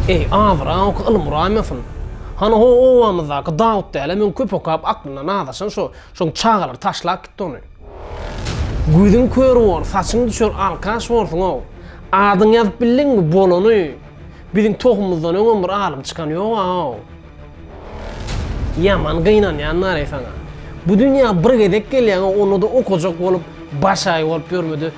Eý, abraň oka ylym uraýmasyn. Hany ho obamyzdaky Dawut dälä meň köp okap aklyndan azaşan şo, şoň çagalar taşlap gitdi ony. Gözüň kör bor, saçyň düşer alkaş borsuň-ow. Adyňy ýazyp bildiňmi, bolany. Biziň tohumymyzdan öňem bir alym çykan ýog-ow. Ýaman gynanýan Nary saňa. Bu dünýä bir gezek gelýäň-ow, onda-da okajak bolup, başaýy bolup ýörmedi.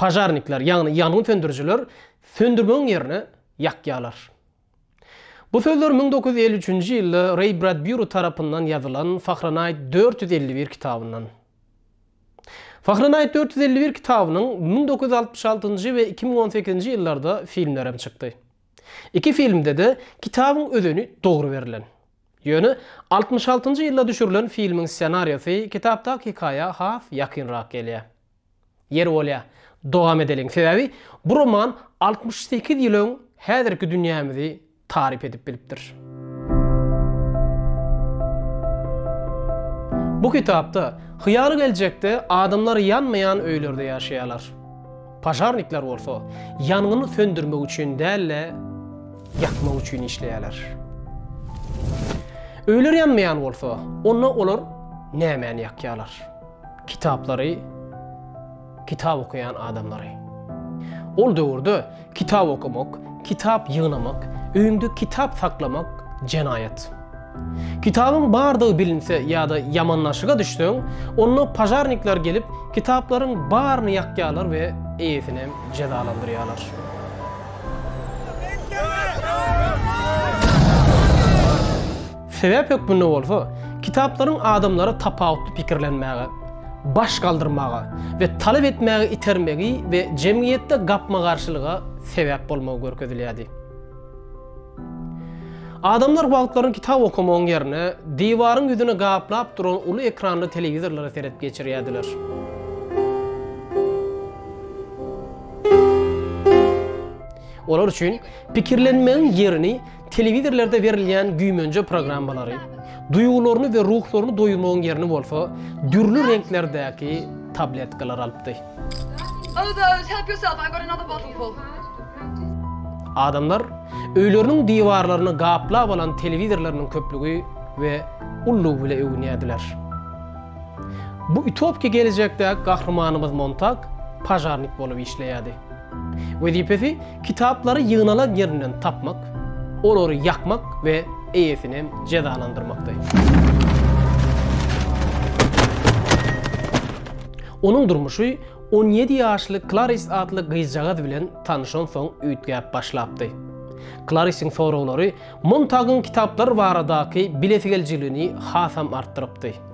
Požarnikler, ýagny ýangyn söndürijiler söndürmegiň ýerine ýakýarlar. Bu sözler müň dokuz ýüz elli üçünji ýylda Reý Bradbýuri tarapyndan ýazylan Fahrenheit dört ýüz elli bir kitabyndan. Fahrenheit dört ýüz elli bir kitabynyň müň dokuz ýüz altmyş altynjy we iki müň on sekizinji ýyllarda filmlerem çykdy. Iki filmde-de kitabyň özeni dogry berlen. Ýöne altmyş altynjy ýylda düşürilen filmiň ssenariýasy kitapdaky hekaýa has ýakynrak gelýär. Ýeri bolýar, dowam edeliň. Sebäbi bu roman altmyş sekiz ýyl öň häzirki dünýämizi taryp edip bilipdir. Bu kitapda hyýaly geljekde adamlar ýanmaýan öýlerde ýaşaýarlar. Požarnikler bolsa ýangyny söndürmek üçin däl-de, ýakmak üçin işleýärler. Öýler ýanmaýan bolsa, onda olar nämäni ýakýarlar? kitaplary, kitap okaýan adamlary. Ol döwürde kitap okamak, kitap ýygnamak, öýüňde kitap saklamak jenaýat. Kitabyň bardygy bilinse ýa-da ýamanlaşyga düşseň, onda pažarnikler gelip, kitaplaryň baryny ýakýarlar we eýesinem jezalandyrýarlar. Sebäp hökmünde bolsa, kitaplaryň adamlary tapawutly pikirlenmäge, baş galdyrmaga we talap etmäge itermegi we jemgyýetde gapma-garşylyga sebäp bolmagy görkezilýärdi. Adamlar wagtlaryny kitap okamagyň ýerine, diwaryň ýüzüni gaplap duran uly ekranly telewizorlara seredip geçirýärdiler. Olar üçin pikirlenmegiň ýerini Telewizorlarda berilýän güýmenje programmalary, duýgularyny we ruhlaryny doýurmagyň ýerini bolsa, dürli reňklerdäki tabletkalar alypdy. Adamlar öýleriniň diwarlaryny gaplap alan telewizorlarynyň köplügi we ullugy bile öwünýärdiler. Bu utopiki gelejekdäki gahrymanymyz Montag pažarnik bolup işleýärdi. Wezipesi kitaplary ýygnalan ýerinden tapmak, olary ýakmak we eýesini jezalandyrmakdy. Onuň durmuşy on ýedi ýaşly Klaris atly gyzjagaz bilen tanyşansoň üýtgäp başlapdy. Klarisiň soraglary Montagyň kitaplar baradaky bilesigelijiligini hasam artdyrypdy.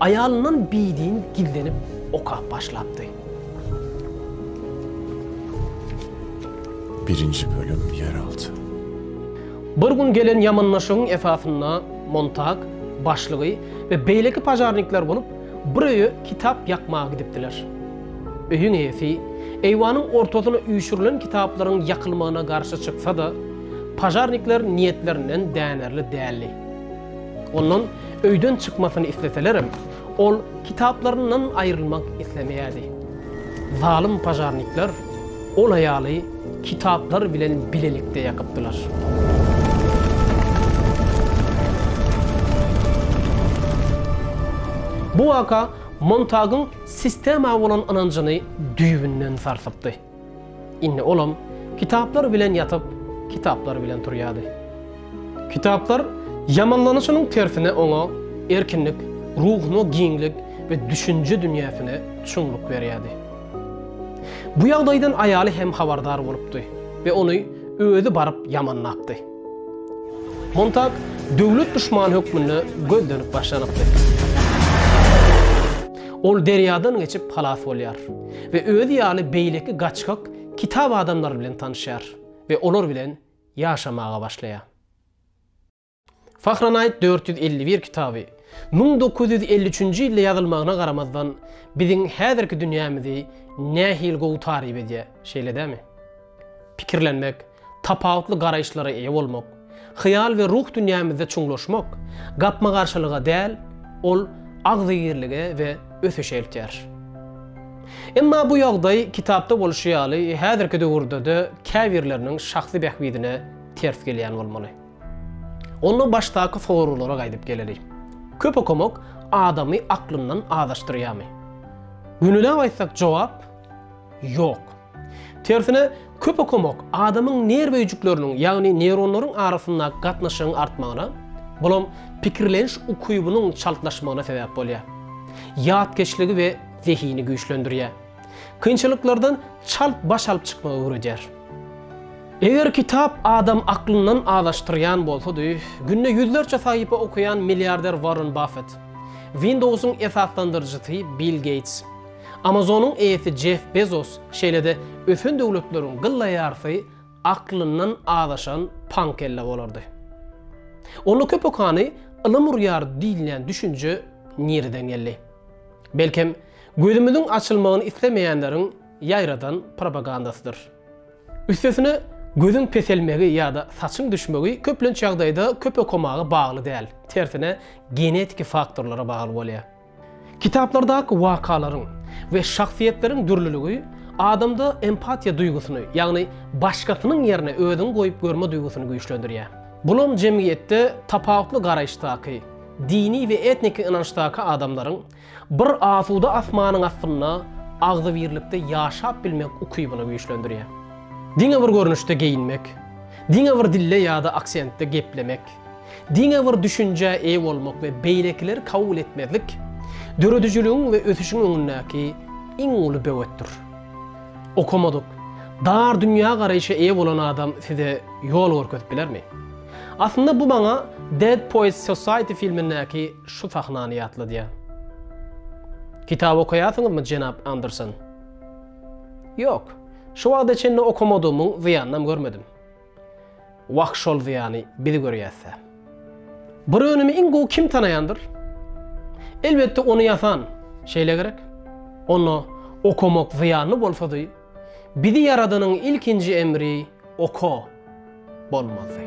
Aýalyndan biydin gizlenip okap başlapdy. Birinji bölüm Ýeralty. Bir gün gelen ýamanlaşygyň esasynda Montag, başlygy we beýleki pažarnikler bolup, bir öýe kitap ýakmaga gidipdiler. Öýüň eýesi eýwanyň ortasyna üýşürilen kitaplaryň ýakylmagyna garşy çyksa-da, pažarnikler niýetlerinden dänerli däldi. Ondan öýden çykmasyny isleselerem, ol kitaplaryndan aýrylmak islemeýärdi. Zalym požarnikler ol aýaly kitaplar bilen bilelikde ýakypdylar. Bu waka Montagyň sistema bolan ynanjyny düýbünden sarsypdy. Indi olam kitaplar bilen ýatyp, kitaplar bilen turýardy. Kitaplar ýamanlanyşynyň tersine oňa erkinlik, ruhuna giňlik we düşünje dünýäsine çuňluk berýärdi. Bu ýagdaýdan aýaly hem habardar bolupdy we ony özi baryp ýamanlapdy. Montag döwlet duşmany hökmünde gözlenip başlanypdy. Ol derýadan geçip halas bolýar. we özi ýaly beýleki gaçgak kitap adamlary bilen tanyşýar we olar bilen ýaşamaga başlaýar. Fahrenheit dört ýüz elli bir kitaby, müň dokuz ýüz elli üçünji ýylda ýazylmagyna garamazdan, biziň häzirki dünýämizi nähili gowy taryp edýär, şeýle dämi? Pikirlenmek, tapawutly garaýyşlara eýe bolmak, hyýal we ruh dünýämizde çuňlaşmak gapma-garşylyga däl, ol agzybirlige we ösüşe eltýär. Emma bu ýagdaý, kitapda bolşy ýaly, häzirki döwürde-de käbirleriniň şahsy bähbidine ters gelýän bolmaly. Onda başdaky soraglara gaýdyp geleli. Köp okamak adamy aklyndan azaşdyrýarmy? Günelap aýtsak jogap, ýok. Tersine, köp okamak adamyň nerw öýjükleriniň, ýagny neýronlaryň arasyndaky gatnaşygyň artmagyna, bulam pikirleniş ukybynyň çaltlaşmagyna sebäp bolýar. Ýatkeşligi we zehini güýçlendirýär. Kynçylyklardan çalt baş alyp çykmagy öwredýär. Eger kitap adam aklyndan azaşdyrýan bolsady, günde ýüzlerçe sahypa okaýan milliarder Warren Baffett, Windows-yň esaslandyryjysy Bill Geýts, Amazonyň eýesi Jeff Bezos, şeýle-de ösen döwletleriň gylla ýarsy aklyndan azaşan paňkelle bolardy. Onda köpokany ylym urýar diýilýän düşünje nireden geldi? Belkem, gözümiziň açylmagyny islemeýänleriň ýaýradan propagandasydyr. Üstesine, gözüň peselmegi ýa-da saçyň düşmegi köplenç ýagdaýda köp okamaga bagly däl, tersine genetiki faktorlara bagly bolýar. Kitaplardaky wakalaryň we şahsyýetleriň dürlüligi adamda empatiýa duýgusyny, ýagny başgasynyň ýerine özüňi goýup görme duýgusyny güýçlendirýär. Bulam jemgyýetde tapawutly garaýyşdaky, dini we etniki ynançdaky adamlaryň bir asuda asmanyň astynda agzybirlikde ýaşap bilmek ukybyny güýçlendirýär. Diňe bir görnüşde geýinmek, diňe bir dilde ýa-da aksentde geplemek, Diňe bir düşünjä eýe bolmak we beýlekileri kabul etmezlik döredijiligiň we ösüşiň öňündäki iň uly böwetdir. Okamadyk, dar dünýägaraýşa eýe bolan adam size ýol görkezip bilermi? Aslynda bu maňa Dead Poets Society filmindäki şu sahnany ýatladýar. Kitap okaýarsyňyzmy, jenap Anderson? Ýok, şu wagta çenli okamadygymyň zyýanynam görmedim. Wah şol zyýany biz görýäs-ä. Bir önümi iň gowy kim tanaýandyr? Elbetde ony ýasan, şeýle gerek? Onda okamak zyýanly bolsady, bizi ýaradanyň ilkinji emri oka bolmazdy.